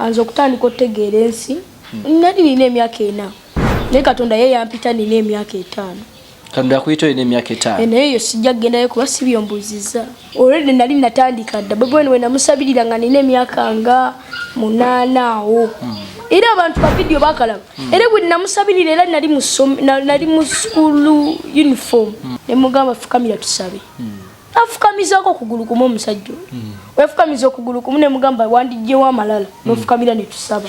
Anze okutandika otegeera ensi hmm. nali nina emyaka ena naye katonda ye yampita nina emyaka etaano katonda yakuyita olina emyaka etaano eh, naye eyo sijja kugendayo kuba si byombuuziza olwedde nali natandika dda bwebwene wenamusabirira nga nina emyaka nga munaana awo hmm. era abantu bavidiyo bakalaba hmm. era bwe namusabirira era nali mu sukulu uniform nemugamba fukamira tusabe afukamizaako okugulu kumu omusajja oyo hmm. wefukamiza okugulu kumu nemugamba wandijjewo amalala hmm. nofukamira netusaba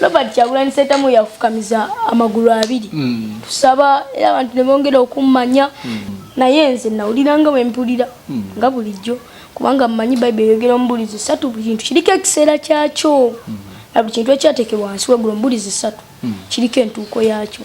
robert kyagulanyi sentamu yafukamiza amagulu abiri hmm. tusaba era abantu nebongera okummanya naye nze nawulira nga wempulira nga bulijjo kubanga mmanyi bayibuli eyogera omubulizi satu buli kintu kiriko ekiseera kyakyo na buli kintu ekyateekebwa wansi wegulu omubulizi satu kiriko entuuko yaakyo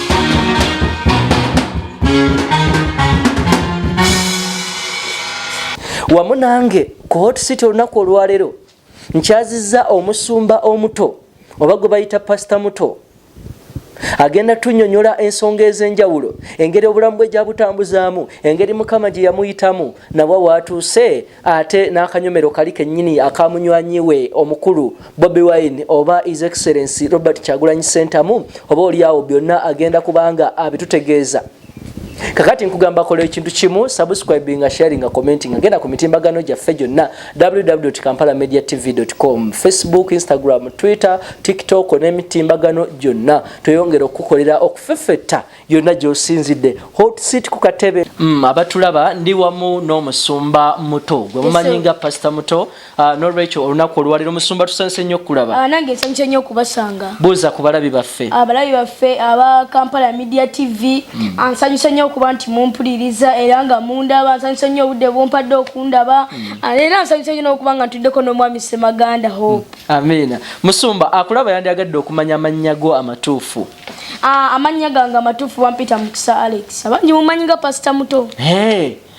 wamu nange ku hot city olunaku olwaleero nkyaziza omusumba omuto oba gwe bayita pasita muto agenda tunyonyola ensonga ez'enjawulo engeri obulamu bwe gyabutambuzaamu engeri mukama gye yamuyitamu nabwa waatuuse ate n'akanyomero kali kennyini aka munywanyi we omukulu Bobi Wine oba His Excellency Robert Kyagulanyi Ssentamu oba olyawo byonna agenda kubanga abitutegeeza kakati nkugamba kola ekintu kimu subscribing nga sharing nga commenting nga genda ku mitimbagano gyaffe gyonna www kampala media tv com facebook instagram twitter tiktok n'emitimbagano gyonna tweyongera okukukolera okufefetta yonna gyosinzidde hotsit ku katebe mm, abatulaba ndi wamu n'omusumba muto gwe mumanyi nga pasita muto uh, nolwekyo olunaku olwaliro omusumba tusanise nnyo okukulaba ah, nange nsanyuse nnyo okubasanga buuza ku balabi baffe abalabi baffe aba kampala media tv mm. ansanyuse nnyo okuba nti mumpuliriza era nga mundaba ansanyuse nnyo obudde bumpadde okundaba mm. ah, era ansanyuse nnyo n'okuba nga ntuddeko n'omwami semaganda hope amiina musumba akulaba yandyagadde okumanya amannya go amatuufu Ah, amannya gange amatuufu bampita mukisa alex abangi mumanyi nga pasita muto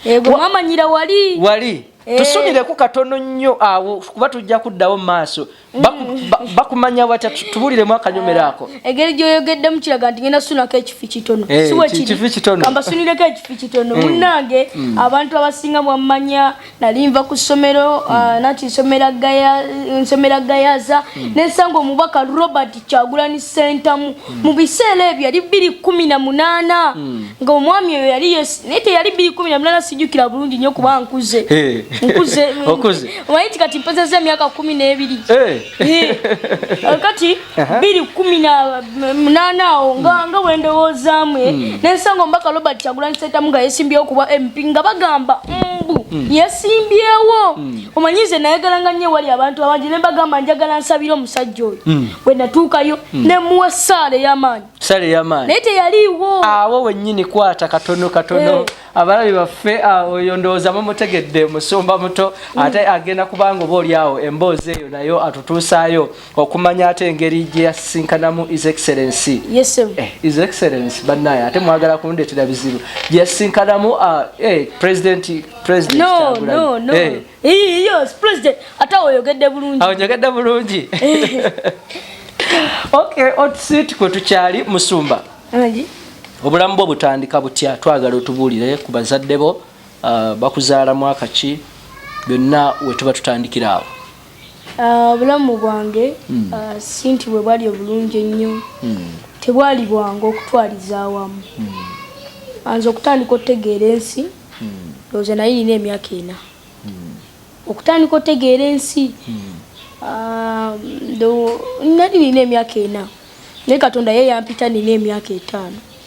ego mwamanyira wali wali eh. tusubireku katono nnyo awo kuba tujja kuddawo mu maaso mm. bakumanya batya tubuliremu akanyomero ako ah, egeri gyoyogeddemu kiraga nti ngenda sunako ekifi kitono eh, siwekifi kitono kambasunireko ekifi kitono mm. munnange mm. abantu abasinga mwamanya nali nva ku ssomero uh, hmm. nati nsomera gayaza hmm. nensanga omubaka robert kyagulani sentamu hmm. mu biseera ebyo yali biri kumi na munaana nga omwami oyo yali naye teyali biri kumi na munaana sijukira bulungi nyo kuba nkuze eh. nkuze omanyi ti kati mpezeza emyaka kumi n'ebiri eh. Eh. kati biri kumi na munana awo nga hmm. nga wendowoozaamu eh? hmm. nensanga omubaka robert kyagulanyi sentamu nga yesimbyewo kuba mp nga bagamba mbu hmm. yesimbyewo omanyi nze nayagalanga nnyo ewali abantu abangi ne mbagamba njagala nsabire omusajja oyo bwe natuukayo ne muwa essaala ey'amaanyi essaala ey'amaanyi naye teyaliiwo awo wennyini kwata katono katono eh. abalabi baffe ah, oyo ndowooza mumutegedde musumba muto ate agenda kubanga oba oli awo emboozi eyo nayo atutuusaayo okumanya ate engeri gye yasisinkanamu is excellency yes, eh, is excellency banaye ate mwagala kundetera bizibu gye yasisinkanamu uh, eh, president president no, no, no. Eh. Yes, president ate oyogedde bulungi oyogedde bulungi eh. okay otusiiti kwe tukyali musumba obulamu bwo butandika butya twagala otubuulire ku bazadde bo uh, bakuzaala mwaka ki byonna wetuba tutandikira awo Ah, obulamu bwange hmm. ah, si nti bwe bwali obulungi ennyo hmm. tebwali bwangu okutwaliza awamu hmm. anze okutandika okutegeera ensi looza naye nina emyaka ena okutandika okutegeera ensi ah, nali nina emyaka ena naye katonda ye yampita nina emyaka etaano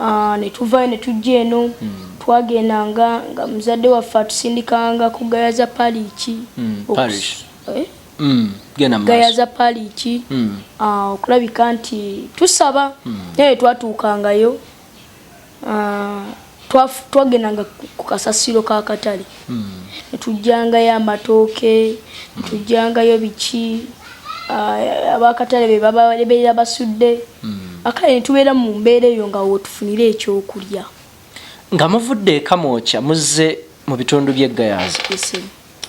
Ah, ne tuvaayo ne tujja eno hmm. twagendanga nga muzadde waffe atusindikanga ku gaya za paliiki hmm, eh? hmm, gaya za paliiki ah, okulabika nti tusaba naye twatuukangayo ah, twagendanga ku kasasiro ka katale netujjangayo amatooke netujjangayo biki ah, abakatale bebabeera basudde hmm. akale netubeera mu mbeera eyo nga wotufunira ekyokulya nga muvudde ekamwokya muzze mu bitundu by'eggayaza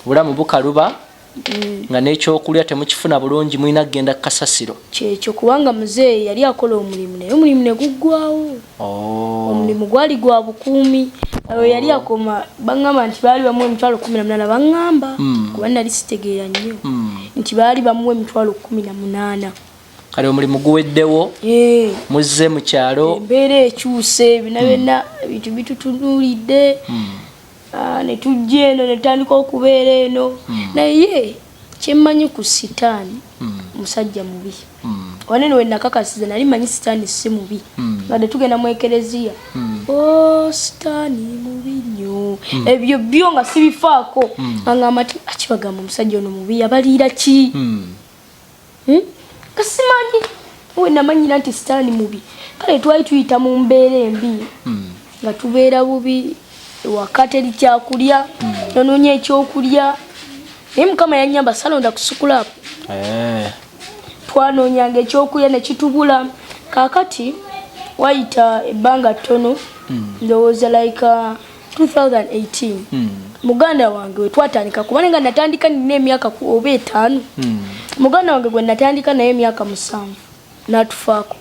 bulamu bukaluba mm. nga n'ekyokulya temukifuna bulungi mulina kugenda ku kasasiro kyekyo kubanga muzeeyi yali akola omulimu naye omulimu ne guggwawo oh. omulimu gwali gwa bukuumi awo oh. yali akoma baŋŋamba nti baali bamuwa emitwalo kumi na munaana baŋŋamba mm. kuba nali sitegeera nnyo mm. nti baali bamuwa emitwalo kumi na munaana kale omulimu guweddewo eh. muzze mu kyalo embeera ekyuse bina byonna ebintu bitutunulidde Ah, ne tujja eno ne tutandika okubeera eno hmm. naye kyemmanyi ku sitaani hmm. musajja mubi hmm. wanene we nakakasiza nali manyi sitaani si mubi ngadde tugenda mu ekereziya o oh, sitaani mubi nnyo ebyo byo nga sibifaako angamba ti akibagamba omusajja ono mubi yabaliira ki hmm? kasimanyi we namanyira nti sitaani mubi kale twali tuyita mu mbeera embi hmm. nga tubeera bubi ewaka teri kyakulya hmm. nonoonya ekyokulya naye mukama yanyamba salonda kusukulaapu eh. twanoonyanga ekyokulya nekitubula kakati wayita ebbanga ttono ndowooza like uh, 2018 hmm. muganda wange wetwatandika kubana nga natandika nina emyaka oba etaano hmm. muganda wange gwe natandika naye emyaka musanvu natufaako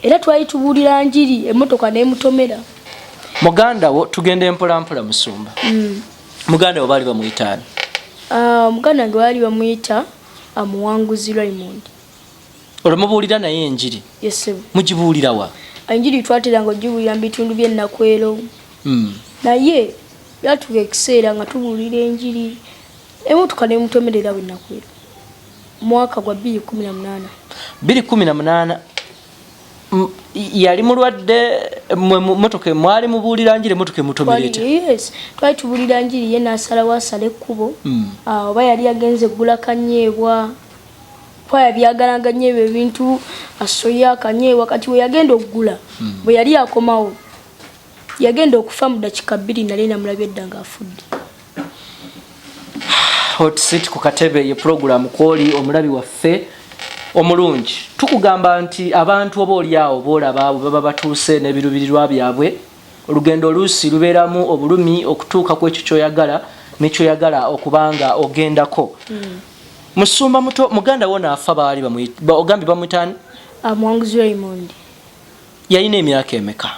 era twali tubuulira njiri emotoka nemutomera muganda wo tugenda empolampola musumba hmm. muganda wo baali bamuyitaani ah, muganda wange baali bamuyita amuwanguzi ah, raymond olwo mubuulira naye enjiri mugibuulira wa enjiri twateranga ogibuulira mu bitundu by'ennakwero hmm. naye yatuka ekiseera nga tubuulira enjiri emotoka nemutomerera bwenakwera mwaka gwa 218 218 yali mulwadde motoka mwali mubuulira njiri motoka emutomeretyes twali tubuulira njiri ye nasalawo asala ekkubo hmm. ah, oba yali yagenze eggula kanyeebwa kwaya byagalaga nnyo ebyo ebintu asoya akanye wakati we yagenda okugula hmm. bwe yali akomawo yagenda okufa mu dakika bbiri nali namulabi edda nga afudde hotsit ku katebe ye pulogulaamu kwoli omulabi waffe omulungi tukugamba nti abantu oba olyawo boolaba bwe baba batuuse n'ebirubirirwa byabwe olugendo oluusi lubeeramu obulumi okutuuka ku ekyo kyoyagala nekyoyagala okubanga ogendako hmm. Musumba muto muganda wona afa baali bamuyita ogambye bamuyita ani? Amwanguzi Raymond. Yalina emyaka emeka?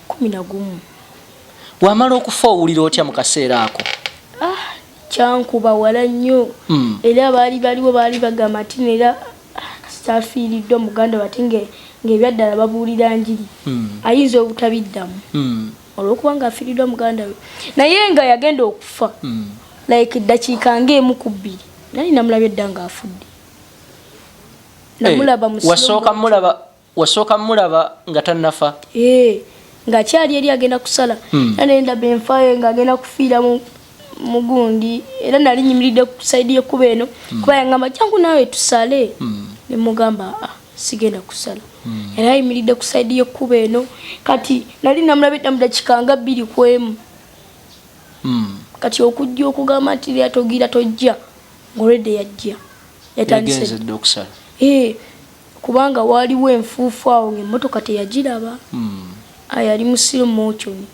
Kumi na gumu. Wamala okufa owulira otya mu kaseera ako? Ah, kyankuba wala nnyo mm. era baali baliwo baali bagamba nti neera kasita afiiriddwa muganda wate ng'ebyaddala babuulira njiri mm. ayinza obutabiddamu mm. olwokuba nga afiridwa muganda we naye nga yagenda okufa mm. like dakiika ngaemu ku bbiri nali namulaba edda nga afudde namulaba eh, hey, wasooka mulaba wasooka mulaba nga tanafa hey, eh, nga kyali eri agenda kusala mm. nanendaba enfaye nga agenda kufiira mu mugundi era nali nyimiridde ku saidi yekuba eno mm. kuba yangamba jangu nawe tusale mm. nemugamba aa ah. sigenda kusala hmm. era ayimiridde ku saidi yekkuba eno kati nali namulabidda mu dakika nga bbiri ku emu hmm. kati okujja okugamba nti lyatogira tojja ngolwedde yajja yatandisede okusala ee kubanga waaliwo enfuufu awo ngaemmotoka teyagiraba hmm. yali musiro mochoni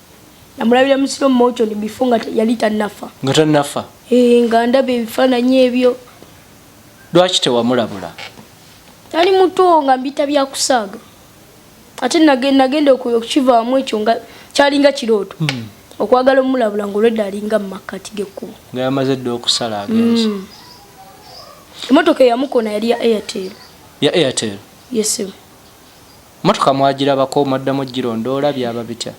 namulabira musiro mochoni bifo nga yali tanafa nga tanafa ee nga ndaba ebifaananyi ebyo Lwaki tewamulabula? Nali muto nga mbita bya kusaaga. Ate nagenda okukivaamu ekyo nga kyalinga kirooto. Hmm. Okwagala omulabula ng'olwedda alinga mu makkati g'ekkubo. Nga yamaze dda okusala agenzi. Hmm. Emmotoka eyamukona yali ya Airtel. Ya Airtel? Yes, sir. Mmotoka mwagirabako mwaddamu girondoola byaba bitya?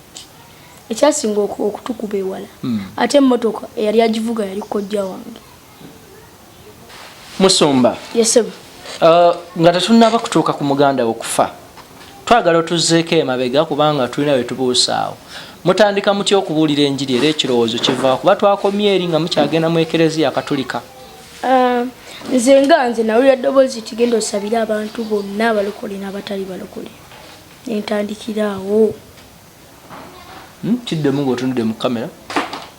ekyasinga okutukuba ewala hmm. ate emmotoka eyali agivuga yali kojja wange Musumba. Yes sebo. Uh, nga tetunaba kutuuka ku muganda okufa twagala otuzzeeko emabega kubanga tulina bwe tubuusaawo mutandika mutya okubuulira enjiri era ekirowoozo kivaa kuba twakomye eri nga mukyagenda mu ekereziya katulika uh, nze nga nze nawulira ddoboozi tigenda osabire abantu bonna abalokole n'abatali balokole nentandikiraawo Hmm, kiddemu ng'otunudde mu kamera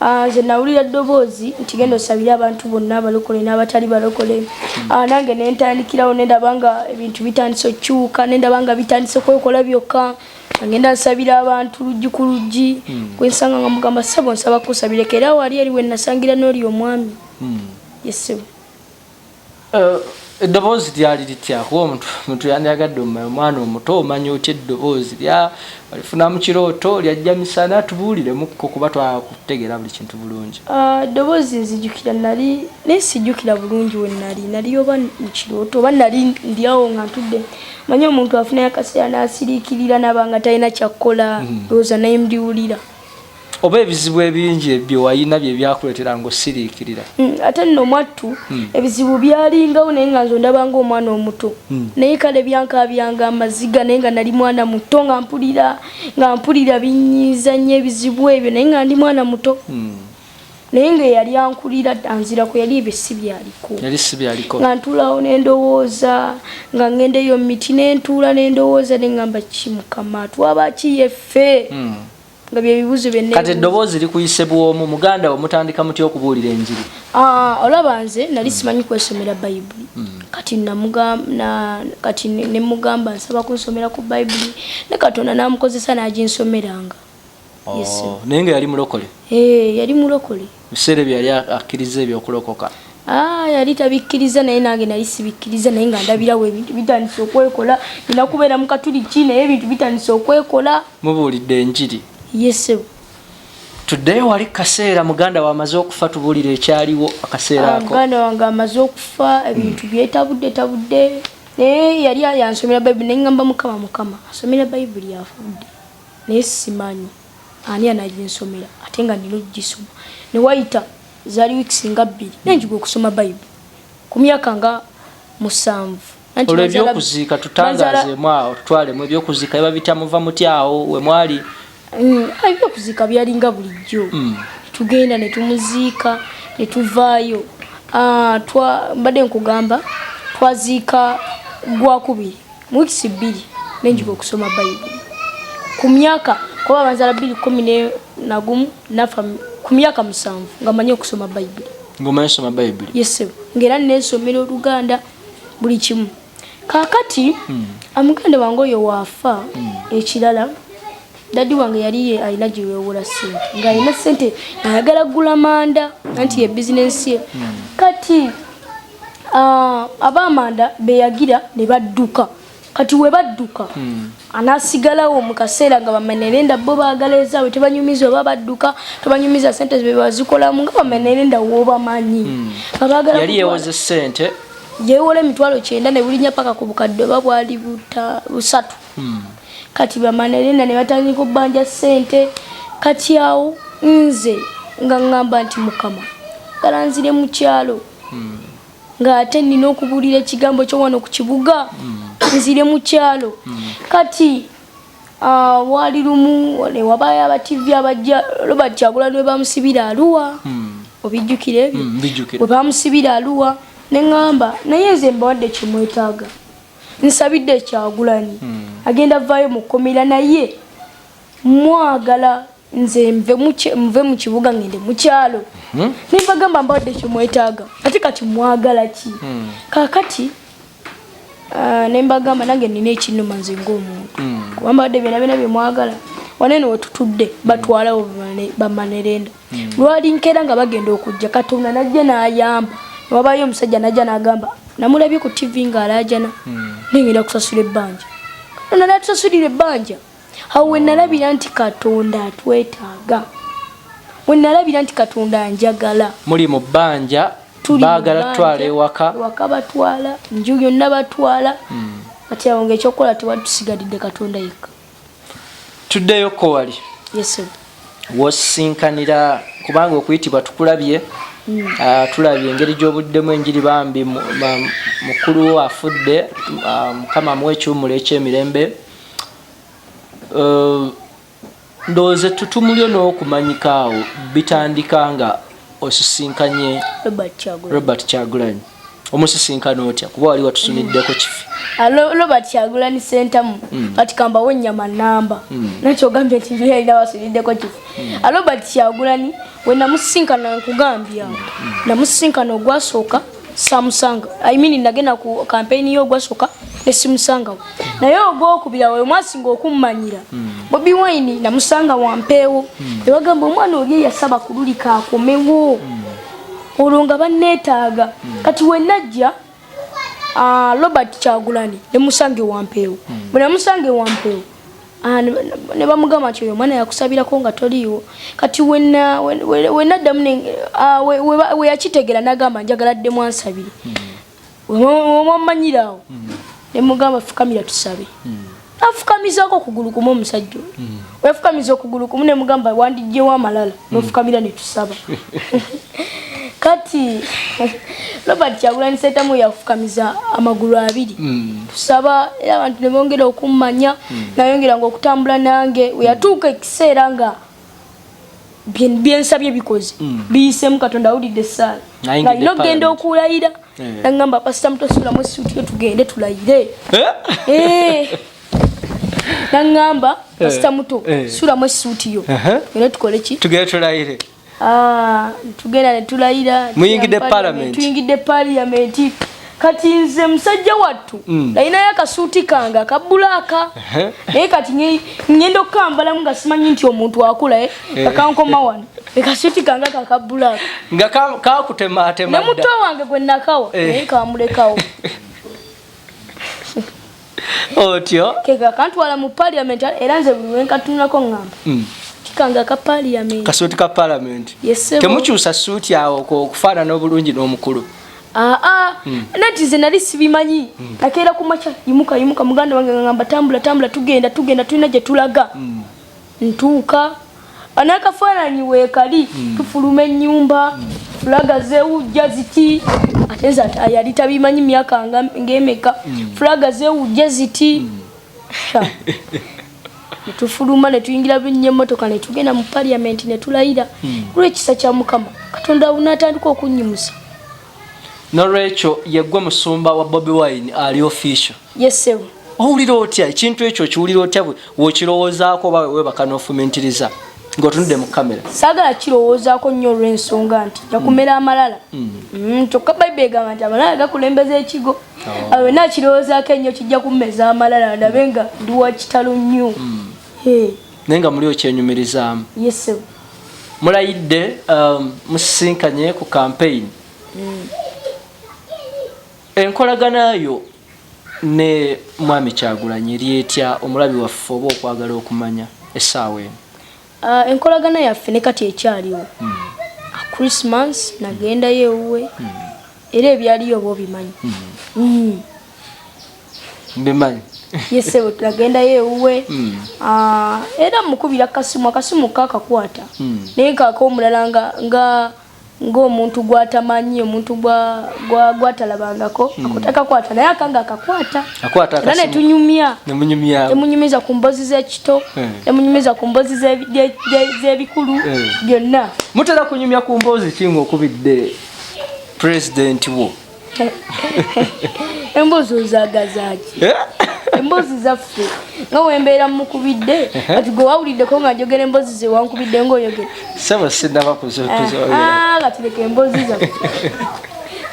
ah, nze nawulira ddoboozi nti genda osabire abantu bonna abalokole n'abatali balokole hmm. ah, nange nentandikirawo nendaba nga ebintu bitandise okukyuka nendaba nga bitandise kwekola byokka agenda nsabira abantu luggi ku luggi hmm. kwensanga nga mugamba sebo nsaba kusabireka era wali eri wenasangira n'oli omwami yesebo Eh, eddoboozi lyali litya kuba omuntu muntu yandyagadde omumanya omwana omuto omanya otya eddoboozi lya alifuna mu kirooto lyajja misana tubuuliremukko kuba twakutegeera buli kintu bulungi ah, eddoboozi nzijukira nali naye sijukira bulungi we nali nali oba mu kirooto oba nali ndyawo nga ntudde manya omuntu afunayo akaseera n'asiriikirira naba nga talina kyakkola hmm. ndowooza naye mbiwulira oba ebizibu ebingi ebyo wayina bye byakuletera ngo sirikirira mm, ate no mwattu mm. ebizibu byalingawo naye nga nzo ndabanga omwana omuto mm. naye kale byanka byanga amaziga naye nga nali mwana muto nga mpulira nga mpulira binyiza nnyo ebizibu ebyo naye nga ndi mwana muto mm. naye nga eyali ankulira anzira ku yali ebyo si byaliko yali si byaliko nga ntulawo n'endowooza nga ngenda eyo miti nentuula n'endowooza ne ngamba ki mukama twaba ki yeffe mm. nga byebibuzo byonna kati eddoboozi likuyise bwomu muganda wo mutandika muty okubuulira enjiri ah, olaba nze nali hmm. simanyi kwesomera bayibuli hmm. kati kati nemugamba nsaba kunsomera ku bayibuli ne katonda namukozesa naginsomeranga oh, naye nga yali mulokole eh, yali mulokole Mu kiseera ebyo yali akkirizza eby'okulokoka? Aa, yali tabikkirizza, naye nange nali sibikkirizza. Naye nga ndabirawo ebintu bitandise okwekola. Nnina kubeera Mukatuliki, naye ebintu bitandise okwekola. Mubuulidde enjiri? Ye, ssebo. Tuddeyo wali ku kaseera muganda wo amaze okufa, tubuulire ekyaliwo akaseera ako. Aa, muganda wange amaze okufa, ebintu byetabuddetabudde. Naye yali yansomera Bayibuli, ne ŋŋamba, Mukama, Mukama, asomera Bayibuli afa budde, naye ssimanyi. Ani anaginsomera ate nga nina okugisoma? Ne wayita zaali wiikisi nga bbiri nenjiga okusoma Bayibu ku myaka nga musanvu. Olwo eby'okuziika tutangazeemu awo tutwalemu eby'okuziika biba bitya muva mutya awo we mwali? Mm, ah, eby'okuziika byalinga bulijjo mm. tugenda ne tumuziika ne tuvaayo. Ah, mbadde nkugamba twaziika gwakubiri mu wiikisi bbiri nenjiga okusoma bayibuli ku myaka kuba abanzala bbiri kumi nagumu nafa ku myaka musanvu nga manyi okusoma bayibuli ngaomanyi okusoma bayibuli yesebo ngaera nesomera oluganda buli kimu kakati hmm. amuganda wange oyo waafa hmm. ekirala dadi wange yali alina gyewewola sente ngaalina sente ayagala gula manda anti ye bizinensi ye hmm. kati Ah, abamanda beyagira ne badduka kati we badduka hmm. anasigalawo mu kaseera nga bamenerenda bo baagala ezaabwe tebanyumiza oba badduka tebanyumiza sente bebazikolamu nga bamenerenda wobamanyi hmm. yali yewoze sente yewola emitwalo kyenda ne bulinya paka ku bukadde oba bwali busatu hmm. kati bamanerenda ne batandika okubanja sente kati awo nze nga ŋŋamba nti mukama galanzire mu kyalo hmm. ng'ate nina okubuulira ekigambo kyo wano ku kibuga hmm. nzire mu kyalo hmm. kati ah, waali lumu newabayo abativi abajja robert kyagula lwe bamusibira aluwa obijjukira ebyo bwe bamusibira aluwa ne ŋŋamba naye nze mbawadde kyemwetaaga nsabidde ekyagulanyi agenda vaayo mu kkomera naye mwagala nze nve mu kibuga ngende mu kyalo mhm. nembagamba mbadde kyemwetaaga ate kati mwagala ki hmm. kakati ah, nembagamba nange nina ekinuma nze ngaomuntu hmm. kuba mbadde byona byona byemwagala wanene wetutudde hmm. batwalawo bamanerenda lwali nkera nga bagenda okujja katonda najja nayamba wabayo omusajja najja nagamba namulabye ku tv nga alajana nengenda kusasula ebbanja nanaatusasulira ebbanja awo we nalabira nti katonda atwetaaga we nalabira nti katonda anjagala muli mu bbanja baagala tutwala ewaka waka batwala nju yonna batwala hmm. kati awo ngaekyokukola tewali tusigalidde katonda yekka tuddeyo ko wali wosisinkanira kubanga okuyitibwa tukulabye hmm. ah, tulabye engeri gy'obuddemu enjiri bambi mukulu afudde ah, mukama muwa ekiwumulo eky'emirembe Uh, ndowooza ettutumu lyo n'okumanyika awo bitandika nga osisinkanye robert kyagulanyi omusisinkana otya kuba wali watusuniddeko kifi ah, robert kyagulanyi sentamu hmm. kati kambawo nyama namba hmm. nakyogambye nti yalina wasuniddeko kifi hmm. ah, robert kyagulanyi wenamusisinkana nkugambye awo namusisinkana ogwasooka samusanga i mean nagenda ku campaign yo gwasoka ne simusanga naye ogwokubira oyo mwasi ngokummanyira hmm. bobi wine namusanga wampeewo hmm. ewagamba omwana oli yasaba kululika akomewo hmm. olwo nga banneetaaga kati wenajja ah, robert kyagulani nemusange wampeewo bwenamusange wampeewo Ah, ne bamugamba nti oyo omwana yakusabirako nga toliiwo kati wenaddamu ah, weyakitegera nagamba njagala ddemu ansabire wamanyira hmm. awo hmm. nemugamba fukamira tusabe hmm. afukamizako okugulu kumu omusajja oyo yafukamiza okugulu kumu nemugamba wandijjewo amalala nofukamira netusaba kati robert kyagulanyi sentamu yafukamiza amagulu abiri hmm. tusaba era abantu nebongera okummanya hmm. nayongera nga okutambula nange weyatuuka ekiseera nga byensabye bikoze hmm. biyisemu katonda awulidde esaala ngalina okugenda okulayira eh. nagamba pasita mutosulamu esuuti yo tugende tulayire eh? Eh. nangamba eh, kasita muto eh. sulamu esuuti yo era tukole ki tugere tulayire ah, tugenda netulayira muyingidde palamenti tuyingidde paliyamenti kati nze musajja wattu mm. nalinayo akasuuti kange akabulaaka naye kati ngenda okukambalamu nga simanyi nti omuntu akula eh, eh. kakankoma wano ekasuuti kange kakabulaaka nga kakutemaatema ne muto wange gwe nakawa eh. naye kamulekawo otyo kega kantwala mu parliament era nze buli wenkatunulako ngamba mm. kikanga ka parliament kasuuti ka parliament yes, temukyusa suuti awo okufaanana obulungi n'omukulu aa ah, ah. mm. nati nze nali sibimanyi mm. nakeera ku makya yimuka yimuka muganda wange ngamba tambula tambula tugenda tugenda tulina gye tulaga mm. ntuuka anakafaananyi weekali hmm. tufuluma ennyumba hmm. fulaga zewujja ziti ate nze yali tabimanyi myaka ng'emeka hmm. fulaga zewujja ziti netufuluma netuyingira binnya emmotoka netugenda mu paliamenti netulayira kulwekisa kya mukama katonda natandika okunnyimusa nolwekyo yegwe musumba wa bobi wine ali official yesebu owulira otya ekintu ekyo okiwulira otya wokirowoozaako oba wewebaka nofumintiriza ngaotunudde mu kamera sagala kirowoozaako nnyo olwensonga nti jakumera mm. amalala mm. Mm, kyokka bayibuli egamba nti amalala gakulembeza ekigo oh. awe nakirowoozaako ennyo kijja kummeza amalala ndabe nga ndi wa kitalo nnyo naye nga muli okyenyumirizaamu yesebu mulayidde um, musisinkanye ku kampeyini Enkolagana yo ne Mwami Kyagulanyi eri etya omulabi waffe oba okwagala okumanya essaawa eno? Ah, enkolagana yaffe ne kati ekyaliwo. Hmm. Ah, Christmas nagendayo ewuwe hmm. era ebyaliyo oba obimanyi? Hmm. Mbimanyi. yesebo tulagendayo ewuwe hmm. ah, era mukubira kasimu akasimu kakakwata hmm. naye kaka omulala nga ng'omuntu gw'atamanyi omuntu gwatalabangako hmm. akuteka kwata naye akanga akakwata era netunyumya emunyumiza ku mbozi z'ekito emunyumiza hmm. ku mbozi z'ebikulu hmm. byonna mutera kunyumya ku mbozi ki ng'okubidde pulezidenti wo embuzi ozagazaki eh? embozi zaffe nga wembeera mukubidde kati gwe wawuliddeko nga njogera embozi ze wankubidde ngaoyogera saba sinaba kuzkati leka embozi zaffe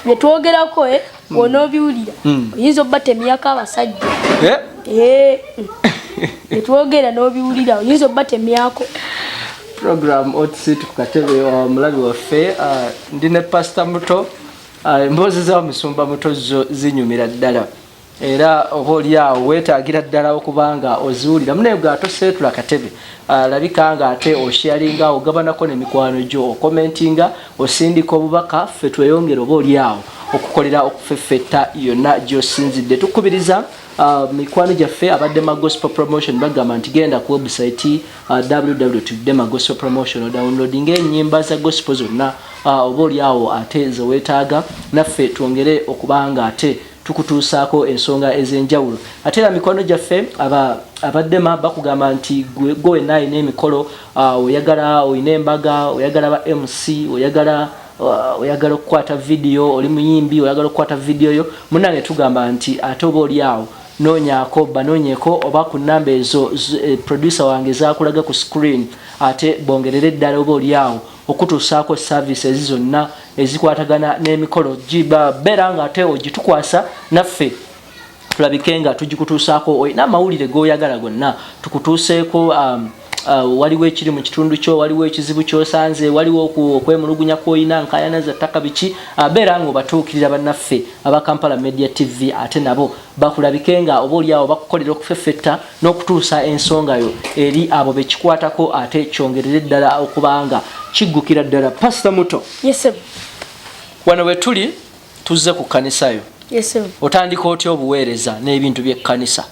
byetwogerako e eh, hmm. wonobiwulira hmm. oyinza obba temyako abasajja eh? Eh, hmm. byetwogera nobiwulira oyinza obba temyako program otsituku katebe omulabi waffe ndi ne pasta muto Ah, emboozi za musumba muto zo zinyumira ddala era oba olyawo wetagira ddala okubanga oziwulira munaye gwe ate oseetula katebe alabika ah, nga ate osharinga ogabanako nemikwano gyo okomentinga osindika obubaka ffe tweyongere oba olyawo okukolera okufeffetta yonna gyosinzidde tukubiriza ah, mikwano gyaffe abadde ma gospel promotion bagamba nti genda ku website Uh, www.demagospelpromotion odownloadinga enyimba za gospel zonna uh, oba oli awo ate zewetaaga naffe twongere okubanga ate tukutuusaako ensonga ez'enjawulo ate era mikwano gyaffe aba abaddema bakugamba nti gwe wenna alina emikolo uh, oyagala olina embaga oyagala ba mc oyagala uh, oyagala okukwata vidiyo oli muyimbi oyagala okukwata vidiyo yo munange tugamba nti ate oba oli awo Noonyaako, banoonyeko oba ku nnamba ezo producer wange z'akulaga ku screen ate bongerere ddala oba oli awo okukutuusaako services zonna ezikwatagana n'emikolo gib. Beera nga ate ogitukwasa naffe tulabike nga tugikutuusaako. Olina amawulire g'oyagala gonna tukutuuseeko? Uh, waliwo ekiri mu kitundu kyo waliwo ekizibu kyosanze waliwo okwemulugunya kwolina nkayana za ttaka biki uh, beera nga obatuukirira bannaffe aba kampala media tv ate nabo bakulabike nga oba oliawo bakukolera okufeffetta n'okutuusa ensonga yo eri abo bekikwatako ate kyongerere ddala okubanga kiggukira ddala pasita muto yes, wano wetuli tuzze ku kkanisayo yes, otandika otya obuweereza n'ebintu by'ekkanisa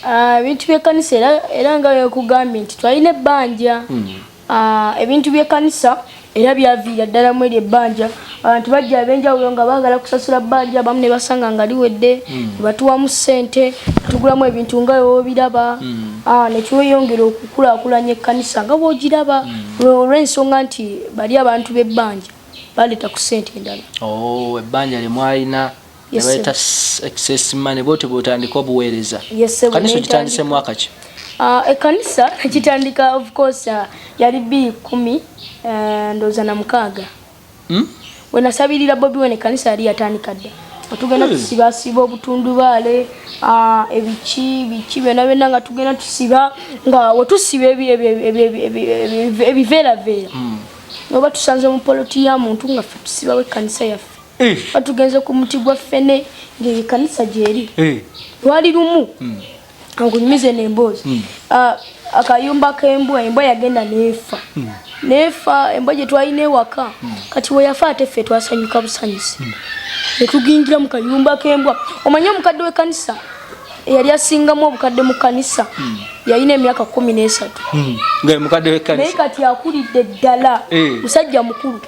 Ah, ebintu by'ekkanisa era era nga wekugambye nti twalina ebbanja hmm. ah, ebintu by'ekkanisa era byaviira ddala mu eryo ebbanja abantu bajja ab'enjawulo nga baagala kusasula bbanja abamu ne basanga nga liwedde hmm. batuwamu ssente tugulamu ebintu nga wewobiraba hmm. ah, nekiweyongera okukulaakulanya ekkanisa nga bwogiraba olw'ensonga nti bali abantu b'ebbanja baleeta ku ssente endala oh, ebbanja lye mwalina nebayita excess money bwoti bwotandika obuweereza kanisa okitandise mwaka ki ah, ekanisa ekitandika of course ah, yali bi kumi eh, ndooza na mukaaga hmm? wenasabirira bobi wene ekanisa yali yatandika dda tugenda hmm. tusibasiba obutundubaale ah, ebiki biki byona byona nga tugenda tusiba nga wetusiba ebiveeraveera hmm. noba tusanze mupolotiya muntu nga fe tusibawo ekanisa yaffe batugenze ku muti gwa ffene ng'ekanisa gyeri lwali lumu hmm. ankunyumize n'emboozi hmm. ah, akayumba k'embwa embwa yagenda n'efa hmm. n'efa embwa gye twalina ewaka kati we yafa ate ffe twasanyuka busanyusi ne tugingira mu kayumba k'embwa omanye omukadde w'ekanisa eyali asingamu obukadde mu kanisa yalina emyaka kumi n'esatu naye kati akulidde ddala eh. musajja mukulu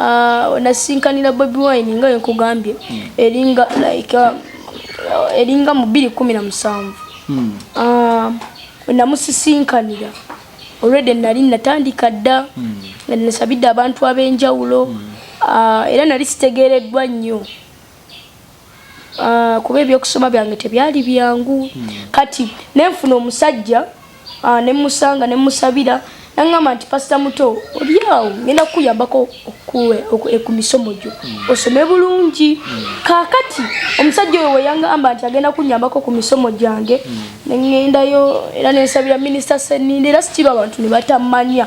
Ah, nasinkanira bobi wine nga wenkugambye hmm. eringa like ah, eringa mu bbiri kumi na musanvu hmm. ah, namusisinkanira olwedde nali natandika dda hmm. nasabidde abantu ab'enjawulo era nali sitegeereddwa nnyo Ah, kuba ebyokusoma byange tebyali byangu hmm. kati nenfuna omusajja ah, nemusanga nemusabira nangamba nti pasita muto olyawo ngenda kukuyambako eh, ku misomo gyo hmm. osome bulungi hmm. kakati omusajja oyo weyangamba nti agenda kunyambako ku misomo gyange nengendayo era nensabira minisita seninde era sikiba abantu nebatamanya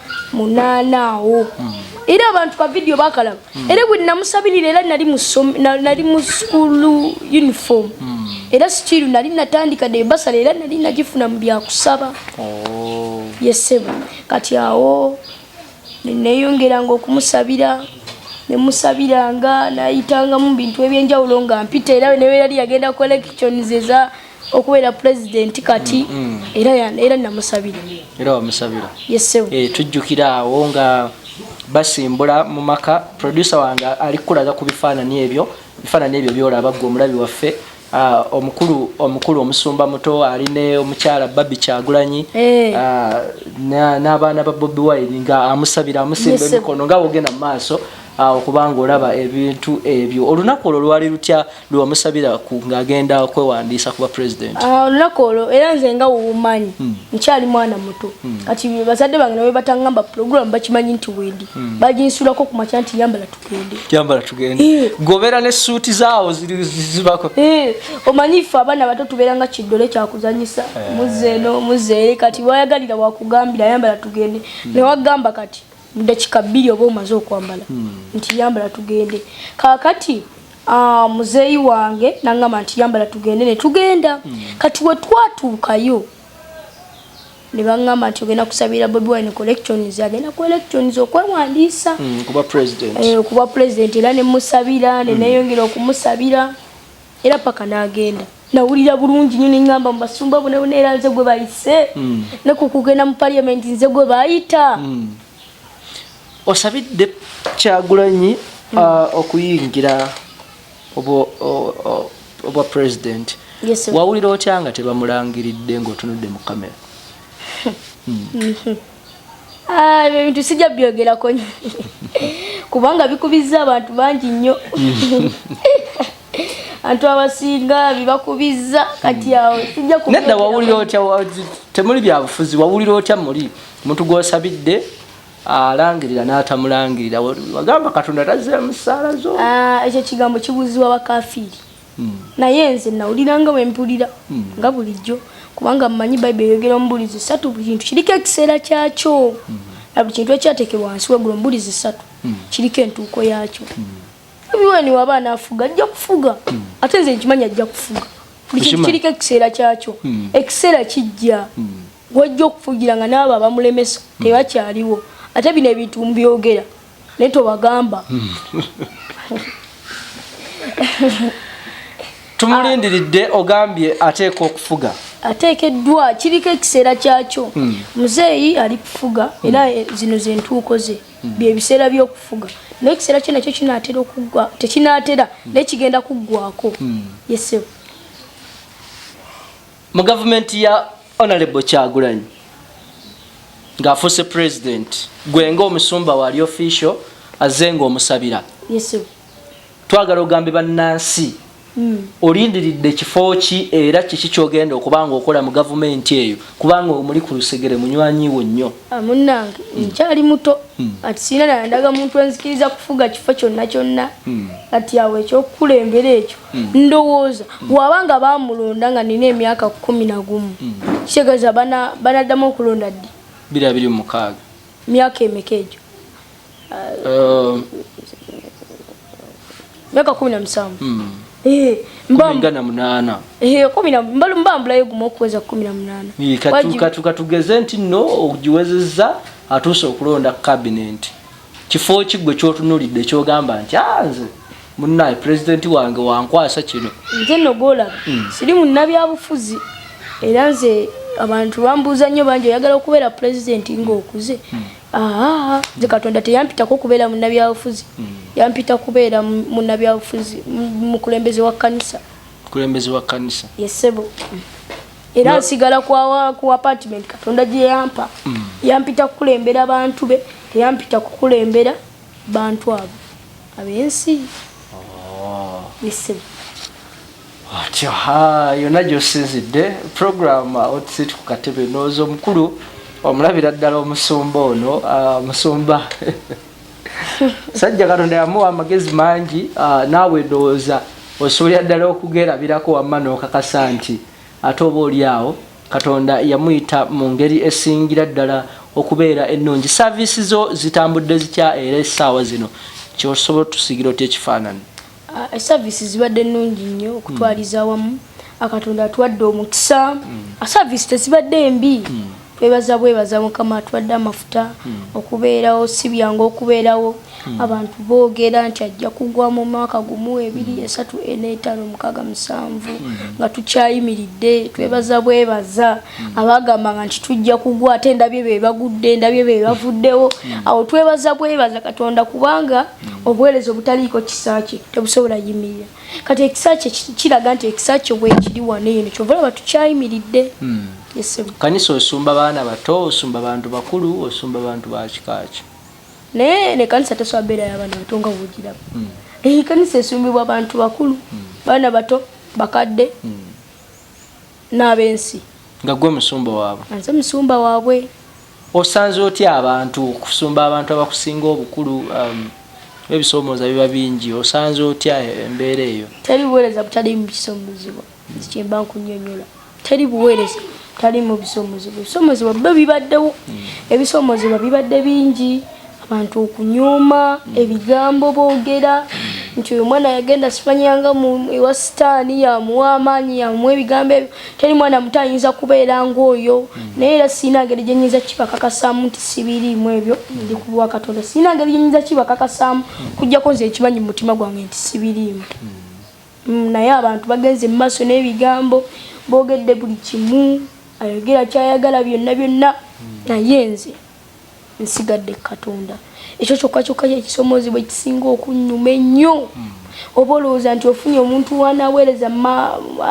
munaana awo era abantu ka vidiyo bakalaba hmm. era bwe namusabirira era nali mu sukulu uniform hmm. era sikiru nali natandika de basala era nali nagifuna mu byakusaba oh. yesebo kati awo neneyongeranga okumusabira nemusabiranga nayitangamu bintu ebyenjawulo nga mpita era newe yali yagenda collections eza okubeera pulezidenti kati mm, mm. era namusabira era wamusabira yesewo eh, tujjukira awo nga basimbula mu maka producer wange ali kukulaga ku bifaanani ebyo bifaanani ebyo byolaba gwe omulabi waffe ah, omukulu omukulu omusumba muto ali ne omukyala babi kyagulanyi eh. ah, n'abaana ba bobi wine nga amusabira amusimba emikono nga wogenda mu maaso awo ah, kubanga olaba ebintu ebyo olunaku olwo lwali lutya lwewamusabira ng'agenda kwewandiisa kuba president ah, olunaku olwo era nze nga wumanyi hmm. nkyali mwana muto hmm. kati bazadde bange nawe batangamba program bakimanyi nti wendi hmm. baginsulako ku makya nti yambala tugende yambala tugende eh. gobeera ne suuti zaawo zibako eh, omanyi ffe abaana bato tubeera nga kiddole kyakuzanyisa eh. muzeeno muzeere kati wayagalira wakugambira yambala tugende newagamba kati mu dakika bbiri oba omaze okwambala hmm. nti yambala tugende kakati ah, muzeeyi wange nangamba nti yambala tugende netugenda hmm. kati wetwatuukayo nebangamba nti ogenda kusabira bobi wine collections agenda ku elections okwewandiisa hmm, okuba president eh, era nemusabira neneyongera okumusabira era paka n'agenda nawulira bulungi nyo nengamba mubasumba bona bona era nze gwe bayise mm. ne ku kugenda mu parliament nze gwe bayita mm. osabidde kyagulanyi mm. uh, okuyingira obwa president yes, wawulira otya nga tebamulangiridde ng'otunudde mu kamera mm. Ah, ebyo bintu sijja byogerako kubanga bikubizza abantu bangi nnyo antu abasinga bibakubizza kati awo sijja nedda wawulira otya temuli byabufuzi wawulira otya muli omuntu gwosabidde alangirira n'atamulangirira wagamba katonda tazira musaala zo ah, ekyo kigambo kibuuziwa bakafiiri naye nze nawulira nga wempulira nga bulijjo kubanga mmanyi bayibuli eyogera omubulizi satu buli kintu kiriko ekiseera kyakyo na buli kintu ekyateekebwa wansi wegula omubulizi satu kiriko entuuko yaakyo obiweni waba anaafuga ajja kufuga ate nze nkimanyi ajja kufuga buli kintu kiriko ekiseera kyakyo ekiseera kijja gwojja okufugira nga naabo abamulemesa hmm. tebakyaliwo ate bino ebintu mubyogera naye tobagamba hmm. tumulindiridde ogambye ateeka okufuga ateekeddwa kiriko ekiseera kyakyo hmm. muzeeyi ali kufuga era zino zentuuko ze byebiseera byokufuga naye ekiseera kyo nakyo kinaatera okuggwa tekinaatera naye kigenda kuggwako yesebo mu gavumenti ya honorable kyagulanyi ng'afuuse president gwe ng'omusumba waali official azze ng'omusabira twagala ogambe bannansi hmm. olindiridde ekifo ki era kiki kyogenda okuba nga okola mu gavumenti eyo kubanga omuli ku lusegere munywanyiwo nnyo ah, munange hmm. nkyali muto hmm. ati sirina nayandaga muntu enzikiriza kufuga kifo kyonna kyonna kati awo ekyokukulembera ekyo Hmm. ndowooza waba nga bamulonda nga nina emyaka kumi nagumu hmm. kitegeeza banaddamu okulonda ddi biri abiri mumukaaga myaka emeka egyo um, myaka kumi namusanvu hmm. eh, eh, mbambulayo gumu okuweza kumi namunanakatugeze nti no ogiwezeza atuuse okulonda kabinenti kifo ki gwe kyotunulidde kyogamba nti ah, nze munaye pulezidenti wange wankwasa kino nze nogolaba hmm. siri munnabyabufuzi era nze abantu bambuuza nnyo bangi oyagala okubeera pulezidenti ngaokuze hmm. aa nze katonda teyampitako okubeera munnabyabufuzi hmm. yampita kubeera munnabyabufuzi mukulembeze wa kanisa mukulembeze wa kanisa yesebo era nsigala ku apartment katonda gye yampa mm. yampita kukulembera bantu be teyampita kukulembera bantu abo abensi oh. yesebo atyo ha yonna gyosinzidde program uh, otusit ku katebe nooza omukulu omulabira ddala omusumba ono uh, musumba sajja katonda yamuwa amagezi mangi ah, naawe ndowooza osobolera ddala okugerabirako wamma n'okakasa nti ate oba oli awo katonda yamuyita mu ngeri esingira ddala okubeera ennungi saaviisi zo zitambudde zitya era essaawa zino kyosobola otusigira otya ekifaananyi Service zibadde nnungi nnyo okutwaliza hmm. awamu akatonda atwadde omukisa hmm. service tezibadde mbi hmm. twebaza bwebaza mukama atwadde amafuta okubeerawo si byangu okubeerawo abantu boogera nti ajja kugwa mu mwaka gumu ebiri esatu eneetaano mukaaga musanvu nga tukyayimiridde twebaza bwebaza abagambanga nti tujja kugwa ate ndabye be bagudde ndabye be bavuddewo awo twebaza bwebaza katonda kubanga obuweereza obutaliiko kisa kye tebusobola yimirira kati ekisa kye kiraga nti ekisa kye bwekiri wano eno kyova olaba tukyayimiridde hmm. kanisa osumba baana bato osumba bantu bakulu osumba bantu bakikaaki naye nekanisa tesobola beera yabaana bato nga wogiraba hmm. ekanisa esumbibwa bantu bakulu hmm. baana bato bakadde n'ab'ensi nga gwe musumba waabwe nze musumba waabwe osanze otya abantu okusumba abantu abakusinga obukulu um, ebisoomooza biba bingi osanze otya embeera eyo teri buweereza butalimu bisoomozebwa kyemba nkunyonyola teri buweereza talimu bisoomozebwa ebisoomozebwa byo bibaddewo hmm. ebisoomozebwa bibadde bingi abantu okunyooma mm. ebigambo boogera mm. nti oyo mwana yagenda sifanyanga ewa sitaani yamuwa amaanyi yamuwa ebigambo ebyo teri mwana muto ayinza kubeera ngaoyo mm. naye era sirina ngeri gyenyinza kibakakasaamu nti sibiriimu ebyo ndi ku bwa katonda sirina ngeri gyenyinza kibakakasaamu kujjako nze ekimanyi mu mutima gwange nti sibiriimu naye abantu bagenze mu maaso n'ebigambo boogedde buli kimu ayogera kyayagala byonna byonna naye nze nsigadde ku katonda ekyo kyokka kyokka kyekisomoozebwa ekisinga okunnyuma ennyo hmm. oba olowooza nti ofunye omuntu wanaweereza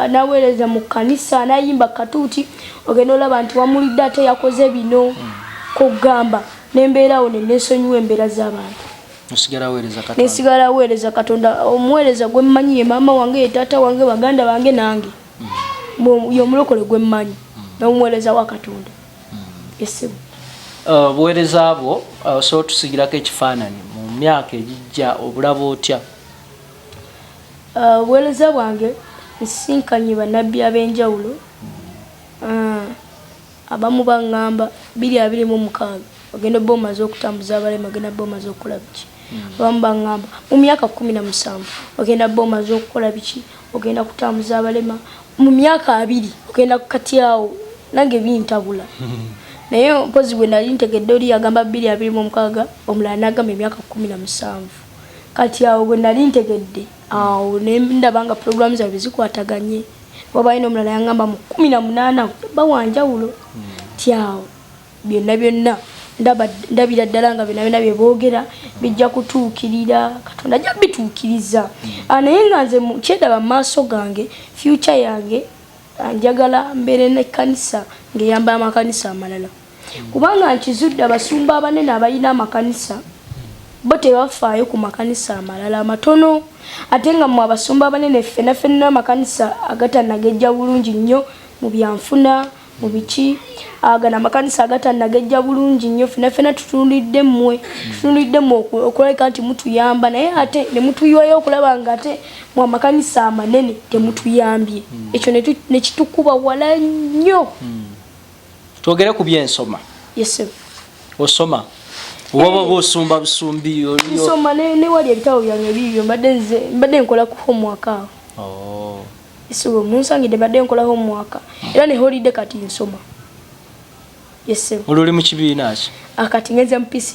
anaweereza mu kkanisa anayimba katuuti ogenda olaba nti wamulidde ate yakoze bino hmm. kugamba nembeerawo nenesonyiwa embeera z'abantu nesigala weereza katonda omuweereza gwe mmanyi ye maama wange ye taata wange baganda bange nange hmm. yomulokole gwe mmanyi nomuweereza wa katonda esimu uh, obuweereza bwo uh, osobola otusigirako ekifaananyi mu myaka egijja obulaba otya uh, obuweereza bwange nsisinkanye bannabbi ab'enjawulo hmm. abamu baŋŋamba biri abiri mu mukaaga ogenda obba omaze okutambuza abalema ogenda bba omaze okukola biki hmm. abamu baŋŋamba mu myaka kumi na musanvu ogenda bba omaze okukola biki ogenda kutambuza abalema mu myaka abiri ogenda kukatyawo nange bintabula naye mpozi bwe nali ntegedde oli yagamba bbiri abiri mu omukaaga omulala nagamba emyaka kumi na musanvu kati awo bwe nali ntegedde awo nendaba nga puroguramu zabwe zikwataganye wabayo nomulala yangamba mu kumi na munaana bawanjawulo hmm. ti awo byonna byonna ndabira ddala nga byonna byonna bye boogera bijja kutuukirira katonda ajja bituukiriza mm. ah, naye nga nze kyedaba mu maaso gange fyuca yange ah, njagala mbeere nekkanisa ng'eyamba amakanisa amalala mm. kubanga nkizudde abasumba abanene abalina amakanisa bo tebafaayo ku makanisa amalala amatono ate nga mwe abasumba abanene ffenafenna amakanisa agatanagejja bulungi nnyo mu byanfuna mubiki agana amakanisa agatanagejja bulungi nnyo fena fena tutunulidde mmwe tutunulidde mmwe okulabika nti mutuyamba naye ate ne mutuyiwayo okulaba nga ate mu amakanisa amanene temutuyambye hmm. ekyo ne kitukuba wala nnyo hmm. twogere ku byensoma yes osoma waba oba osumba busumbi nsoma newali ebitabo byange bibyo mbadde nkola ku homework awo oh. Isulo munsangide badde nkola homework era ne holiday kati nsoma. Yes sir. Oluli mu kibiina ki? Akati ah, ngenze mu P6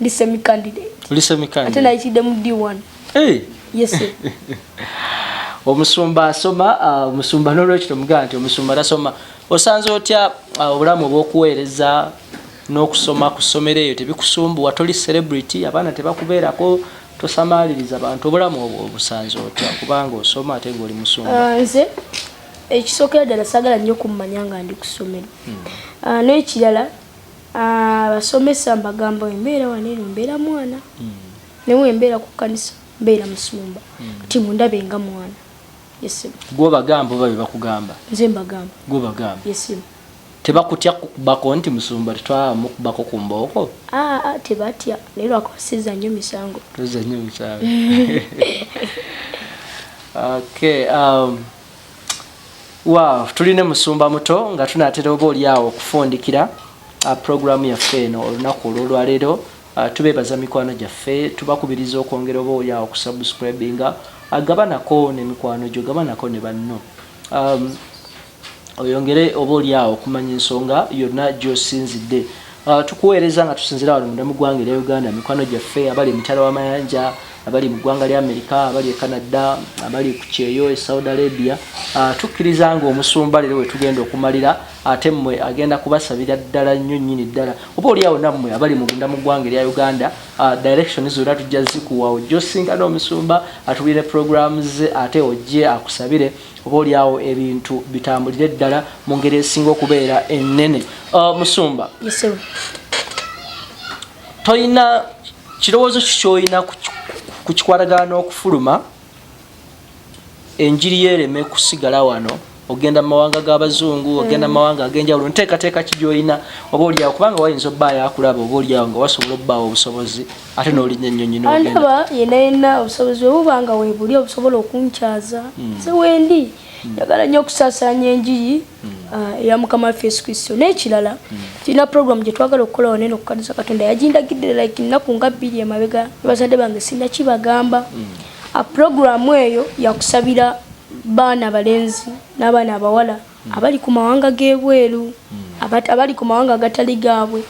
ndi semi candidate. Oli semi candidate. Ate nayitidde mu D1. Hey. Yes sir. omusumba asoma ah, omusumba nolwekyo tomugaa nti omusumba tasoma osanze otya ah, obulamu obwokuweereza n'okusoma ku ssomero eyo tebikusumbuwa toli celebrity abaana tebakubeerako tosamaaliriza bantu obulamu obwo obusanze otya kubanga osoma ate ngaoli musumba ah, nze ekisookera ddala sagala nnyo okummanya nga ndi ku ssomero hmm. ah, n'ekirala ah, abasomesa mbagamba embeera wano eno mbeera mwana hmm. newe embeera ku kkanisa mbeera musumba hmm. ti mundabe nga mwana yesimu gwobagamba oba bebakugamba nze mbagamba gwobagamba yesimu tebakutya kukubako nti musumba tetwamukubako ku mbooko aa tebatya naye lwakuba siza nnyo misango toza nnyo misango okay um, wow tuli ne musumba muto nga tunatera oba oli awo okufundikira uh, programu yaffe eno olunaku olwolwaleero uh, tubebaza mikwano gyaffe tubakubiriza okwongera oba oli awo okusubscribinga agabanako uh, nemikwano gyo gabanako ne banno um, oyongere oba oli awo okumanya ensonga yonna gy'osinzidde Uh, tukuweereza nga tusinzira wano munda mu ggwanga erya uganda mikwano gyaffe abali emitala w'amayanja abali mu ggwanga lya amerika abali e canada abali ku kyeyo e saudi arabia uh, tukkiriza nga omusumba leero we tugenda okumalira ate mmwe agenda kubasabira ddala nnyo nnyini ddala oba oliawo nammwe abali munda mu ggwanga erya uganda uh, direction zonna tujja zikuwa ojja osinga n'omusumba atubire programu ze ate ojje akusabire oba olyawo ebintu bitambulire ddala mu ngeri esinga okubeera ennene uh, musumba tolina kirowoozo ki kyolina ku kikwatagana n'okufuluma enjiri yereme kusigala wano ogenda mu mawanga g'abazungu hmm. ogenda mu mawanga ag'enjawulo nteekateeka ki gyolina oba olyawo kubanga wayinza obbaayo akulaba oba olyawo nga wasobola obbaawo obusobozi ate n'olinya ennyonyi n'ogenda yena yena obusobozi bwe buba nga weebuli obusobola okunkyaza hmm. nze wendi hmm. njagala nnyo okusaasaanya enjiri hmm. ah, eya mukama waffe yesu kristo n'ekirala tulina puroguramu gye twagala okukola wanene okukadisa katonda yagindagidde like nnaku nga bbiri emabega nebazadde bange sirina kibagamba ah, puroguramu eyo yakusabira baana balenzi n'abaana abawala abali ku mawanga g'ebweru hmm. abali ku mawanga agatali gaabwe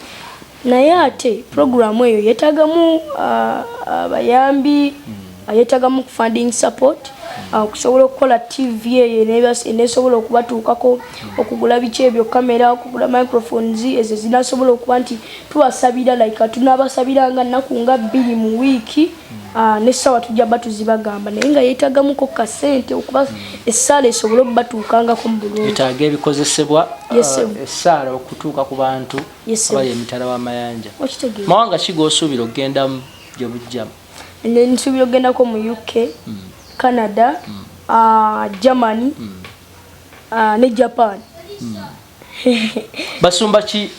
naye ate puroguramu eyo yeetagamu ah, abayambi ah, hmm. yeetagamu funding support hmm. ah, okusobola okukola tv eyo enesobola okubatuukako okugula biki ebyo kamera okugula microphones ezo zinasobola okuba nti tubasabira like tunaabasabira nga nnaku nga bbiri mu wiiki Ah, n'essaawa tujja batuzi bagamba naye nga yeetagamuko ka ssente okuba essaala esobole okubatuukangako mu bulungi yetaaga ebikozesebwa ah, essaala okutuuka ku bantu abali emitala w'amayanja mawanga ki g'osuubira okugendamu gye bujjamu nsuubira okugendako mu uk hmm. canada hmm. Ah, germany hmm. ne japan basumba ki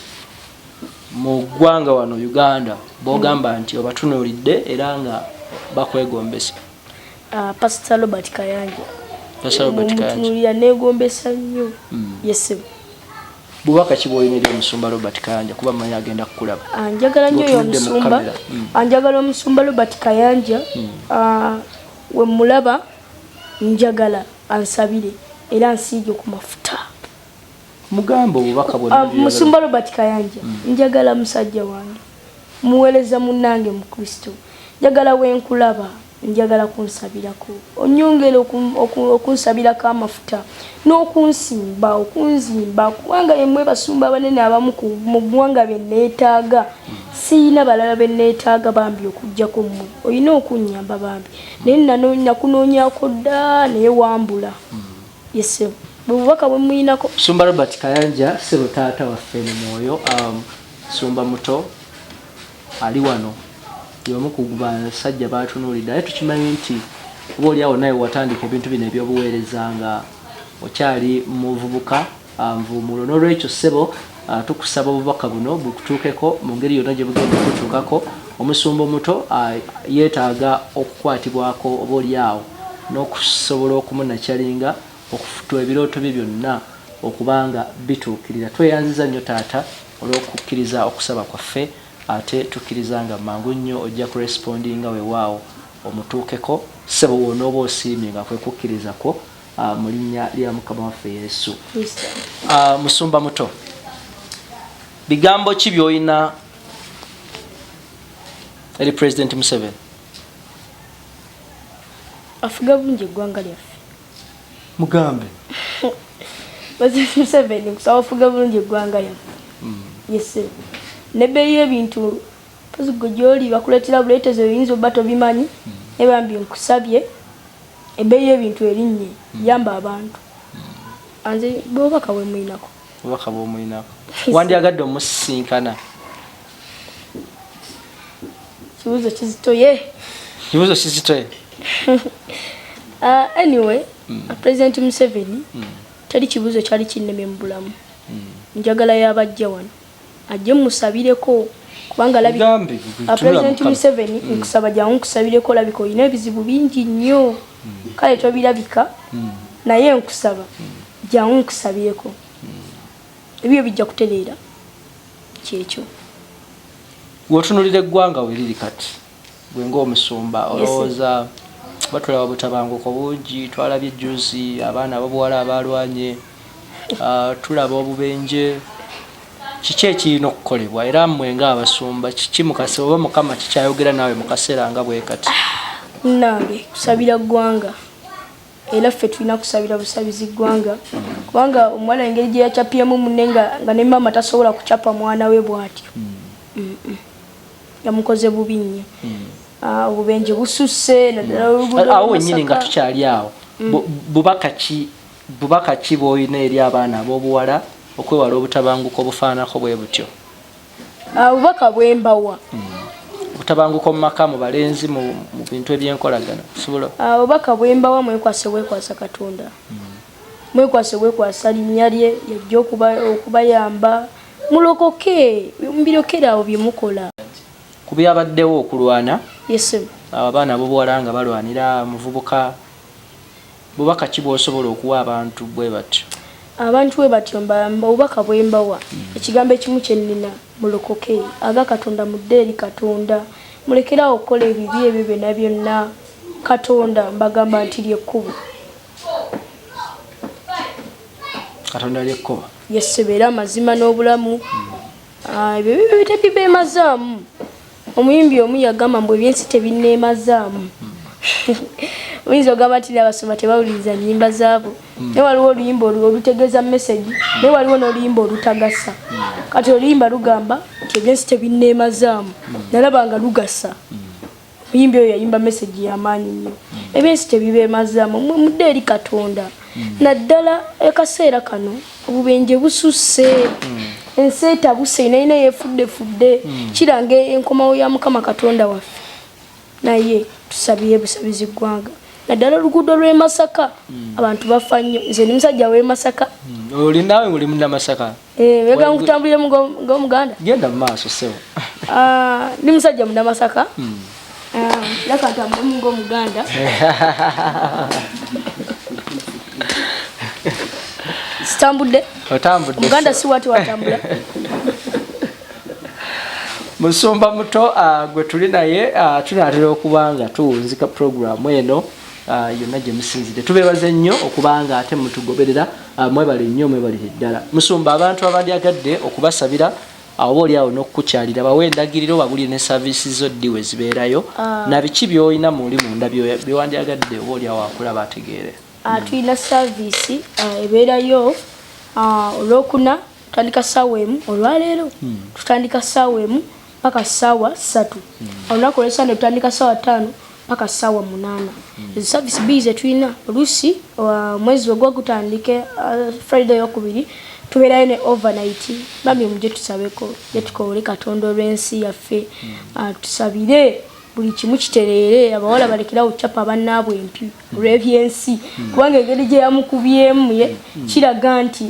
mu ggwanga wano uganda bogamba nti obatunulidde era nga bakwegombesa ah, pasita robert kayanja omutunulira negombesa nnyo hmm. yesebo bubaka ki bwolina eri omusumba robert kayanja kuba manyi agenda kukulaba ah, njagala nyo oyo omusumba hmm. ah, njagala omusumba robert kayanja hmm. wemulaba njagala ansabire era nsiige ku mafuta mugamba obubaka bwe ah, musumba robert kayanja mm. njagala musajja wange muweereza munnange mu kristo njagala wenkulaba njagala kunsabirako onyongere okunsabirako amafuta n'okunsimba okunzimba kubanga yemwe basumba abanene abamu mu ggwanga beneetaaga siyina balala beneetaaga bambi okujjako mmwe olina okunnyamba bambi naye nakunoonyako dda naye wambula mm. Yes, sir. Bubaka bwe muyinako. Sumba Robert Kayanja, sebo taata waffe mu mwoyo, um, sumba muto ali wano yomu ku basajja batunuulidde naye tukimanyi nti oba oli awo naye watandika ebintu bino ebyobuweereza nga okyali muvubuka Nvuumuulo. N'olwekyo ssebo tukusaba obubaka buno bukutuukeko mu ngeri yonna gye bugenda okukutuukako. Omusumba omuto yeetaaga okukwatibwako oboolyawo n'okusobola okumunakyalinga okufutwa ebirooto bye byonna okuba nga bituukirira. Tweyanziza nnyo Taata olw'okukkiriza okusaba kwaffe ate tukkiriza nga mangu nnyo ojja kurespondinga wewaawo omutuukeko ssebo w'onooba osiimye nga kwe kukkiriza kwo Ah, mu linnya lya mukama waffe yesu ah, musumba muto bigambo ki byolina eri president museven afuga bulungi eggwanga lyaffe mugambe president museven kusaba afuga bulungi eggwanga lyaffe hmm. yese nebeeyi ebintu pozigwe gyoli bakuleetera buleetezo oyinza oba tobimanyi hmm. nebambi nkusabye Ebbeeyi y'ebintu erinnye, yamba abantu. Anze bw'obubaka bwe mulinako. Obubaka bw'omulinako. Wandyagadde omusisinkana? Kibuuzo kizitoye. Kibuuzo kizitoye. Uh, anyway, mm. Uh, President Museveni mm. teri kibuuzo kyali kinnemye mu bulamu. Mm. Njagala yabajja wano. ajje musabireko kubanga labi president Museveni mm. nkusaba jangu nkusabireko olabika olina ebizibu bingi nnyo mm. kale tobirabika mm. naye nkusaba jangu nkusabireko ebyo bijja kutereera kyekyo wotunulira eggwanga weriri kati gwe ng'omusumba olowooza batulaba butabanguko bungi twalabye juzi abaana abobuwala abaalwanye ah, tulaba obubenje kiki ekirina okukolebwa era mmwe ng'abasumba kiki mukase oba mukama kikyayogera naawe mu kaseera nga bwe kati nange kusabira ggwanga era ffe tulina kusabira busabizi ggwanga kubanga omuwala engeri gye yacapiemu munne nga ne maama tasobola kucapa mwana we bw'atyo hmm. yamukoze bubi nnyo ah, obubenje bususse awo wenyini nga tukyali awo bubaka ki bubaka ki bwolina eri abaana ab'obuwala okwewala obutabanguko obufaananako bwe butyo ah, obubaka bwembawa hmm. obutabanguko mu maka mu balenzi mu bintu eby'enkolagana kusobola ah, obubaka bwembawa mwekwase bwekwasa katonda hmm. Mwekwase bwekwasa linnya lye yajja okuba okubayamba mulokoke mubirekere awo bye mukola. Ku byabaddewo okulwana Yes ssebo. abo abaana abobuwala nga balwanira omuvubuka bubaka ki bwosobola okuwa abantu bwe batyo? Abantu bwe batyo mba mba obubaka bwe mbawa ekigambo ekimu kye nnina mulokoke aga Katonda mudde eri Katonda mulekere awo okukola ebibi ebyo byonna byonna Katonda mbagamba nti ly'ekkubo. katonda lyekkubo yesebeera amazima n'obulamu ah, ebyo bibyo tebibeemazaamu omuyimbi omu yagamba mbu ebyensi tebineemazaamu oyinza ogamba nti nabasoma tebawuliriza nyimba zaabo hmm. naye waliwo oluyimba olutegeeza mesegi naye waliwo n'oluyimba olutagasa hmm. kati oluyimba lugamba nti ebyensi tebineemazaamu hmm. nalaba nga lugasa Muyimbi oyo yayimba message ya maanyi nnyo. Hmm. Ebyensi tebibemazamu mwe mudde eri Katonda. Hmm. Naddala ekaseera kano obubenje bususse. Hmm. Ensi etabuse nayina yefudde fudde. Kiranga enkomawo ya Mukama Katonda waffe. Naye tusabire busabizi ggwanga. Naddala oluguudo lw'e Masaka abantu bafa nnyo. Nze ndi musajja w'e Masaka. Oli naawe oli munnamasaka? Eh, wega nkutambulire mu go muganda. Genda maaso sewa. Ah, ni musajja muna masaka. Mm. Ah, laka ntambulire mu go muganda. Sitambudde. Otambudde. Muganda si watu watambula. Musumba muto uh, gwe tuli naye uh, tunatera okuba nga tuwunzika puroguramu eno uh, yonna gye musinzidde tubeebaze nnyo okuba nga ate mutugoberera Ah, mwebale nnyo mwebalire ddala musumba abantu abandyagadde okubasabira awoba oli awo n'okukukyalira bawe endagiriro babulire ne saavisi zo ddi we zibeerayo ah. na biki byolina muli munda byewandyagadde oba oli awo akulaba ategeere ah, tulina saavisi ebeerayo olwokuna tutandika saawa emu olwaleero hmm. tutandika saawa emu paka sawa satu mm. olunaku olwesande tutandika sawa tano paka sawa munana mm. ezo service b zetulina olusi uh, mwezi ogwo gutandike uh, friday yokubiri tubeerayo ne overnight bambi muje tusabeko yetukoole katonda olwensi yaffe mm. uh, tusabire buli kimu kitereere abawala balekerawo capa abannaabwe empi olw'ebyensi kubanga engeri gye yamukubyemu ye kiraga nti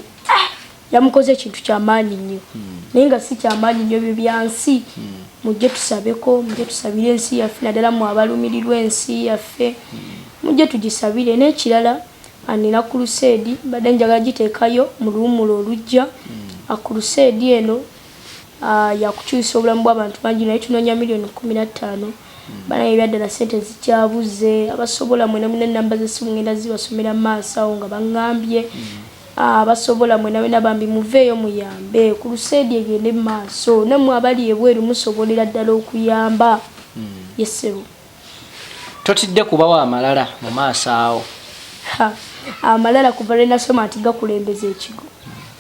yamukoze ekintu kyamaanyi nnyo hmm. naye nga si kyamaanyi nnyo byo byansi hmm. mujje tusabeko mujje tusabire ensi yaffe naddala mu abalumirirwa ensi yaffe hmm. mujje tugisabire n'ekirala anina kuruseedi mbadde njagala giteekayo mu luwumula olujja akuruseedi eno yakukyusa obulamu bw'abantu bangi naye tunoonya miliyoni kumi na ttaano bana ebyaddala sente zikyabuze abasobola mwena muna enamba zesimu ngenda zibasomera mu maaso awo nga baŋŋambye Abasobola mwena wena bambi muveeyo muyambe ku luseedi egende mu maaso. Nammwe abali ebweru musobolera ddala okuyamba. Ye ssebo. Totidde kubawa amalala mu maaso awo? Ha, amalala kuva lwe nasoma nti gakulembeza ekigo,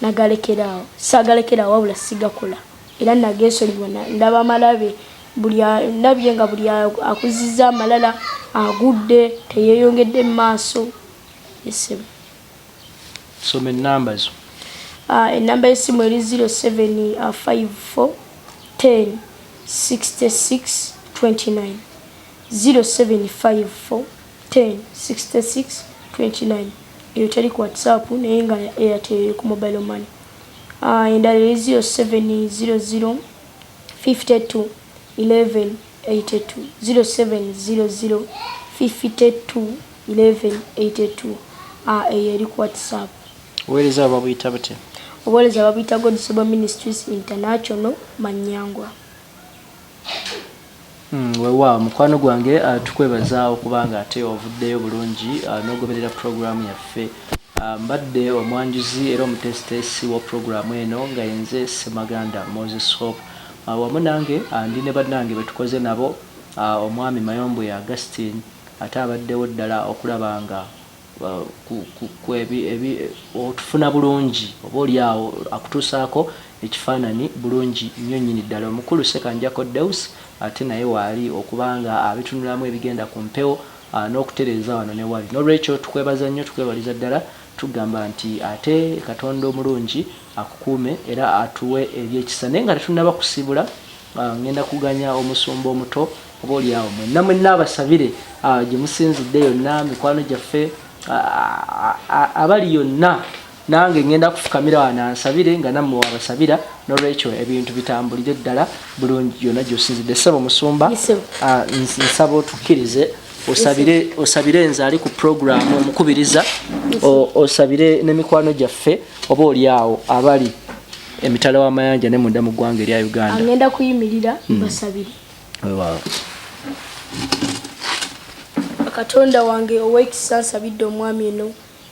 nagalekera awo. Saagalekera awo wabula sigakola era nageesonyiwa. Na, ndaba malabe. Buli a, ndabye nga buli a, akuzzizza amalala agudde, teyeeyongedde mu maaso. Ye ssebo. soma enamba zo ah, enamba yesimu eri 0754106629 0754106629 eyo teri ku whatsapp naye nga airtel ku mobile money ah, endala eri 07005211 82 0700 52 11 82 a eyo eri ku whatsapp obuweereza babuyita butya obuweereza babuyita godsobo ministries international manyangwa hmm, wewa mukwano gwange uh, tukwebazaawo kubanga ate ovuddeyo bulungi uh, nogoberera puroguramu yaffe uh, mbadde omwanjuzi era omuteesiteesi wa puroguramu eno nga yenze semaganda moses hope Wamu nange ndi ne bannange be tukoze nabo, Omwami Mayombwe Augustine ate abaddewo ddala okulaba nga otufuna bulungi oba oli awo akutuusaako ekifaananyi bulungi nnyo nnyini ddala. Omukulu Ssekanjakko Deus ate naye waali okuba nga abitunulamu ebigenda ku mpewo n'okutereeza wano ne wali. N'olwekyo tukwebaza nnyo, tukwebaliza ddala, tukugamba nti ate Katonda omulungi akukuume era atuwe ebyekisa naye nga tetunaba kusibula ah, ngenda kuganya omusumba omuto oba oli awo mwenna mwenna abasabire ah, gye musinzidde yonna mikwano gyaffe ah, abali yonna nange ngenda kufukamira wano ansabire nga nammwe wabasabira nolwekyo ebintu bitambulire ddala bulungi yonna gyosinzidde ssebo musumba nsaba otukkirize osabire osabire nze ali ku puroguramu omukubiriza osabire n'emikwano gyaffe oba oli awo abali emitala w'amayanja ne munda mu ggwanga erya uganda agenda kuyimirira hmm. basabire katonda wange ow'ekisa nsabidde omwami eno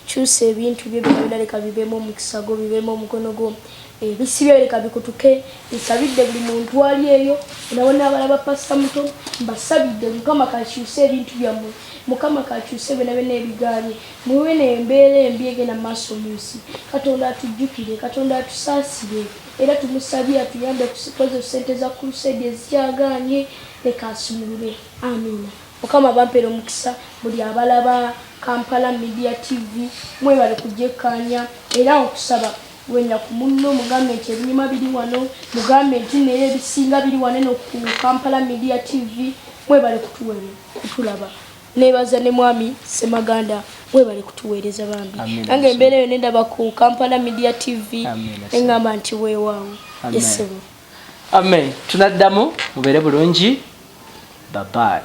Kyusa ebintu byo byona leka bibemu omukisa gwo bibemu omukono gwo ebisibye leka bikutuke nsabidde buli muntu ali eyo nabona abalaba pasta muto mbasabidde mukama kakyuse ebintu byamwe mukama kakyuse byona byona ebiganye muwe nembeera embi egenda maaso munsi katonda atujjukire katonda atusaasire era tumusabye atuyambe kukoze sente za crusade ezikyaganye leka asumulule amina Mukama bampere omukisa buli abalaba Kampala Media TV mwebale kugyekkaanya era nkusaba wenda ku munno mugambe nti ebinyuma biri wano mugambe nti naye ebisinga biri wano eno ku Kampala Media TV mwebale kutuwere kutulaba nebaza ne mwami Semaganda webale kutuweereza bambi nange embeera eyo nendaba ku Kampala Media TV engamba nti weewaawo yesebo yes, amen tunaddamu mubere bulungi babayi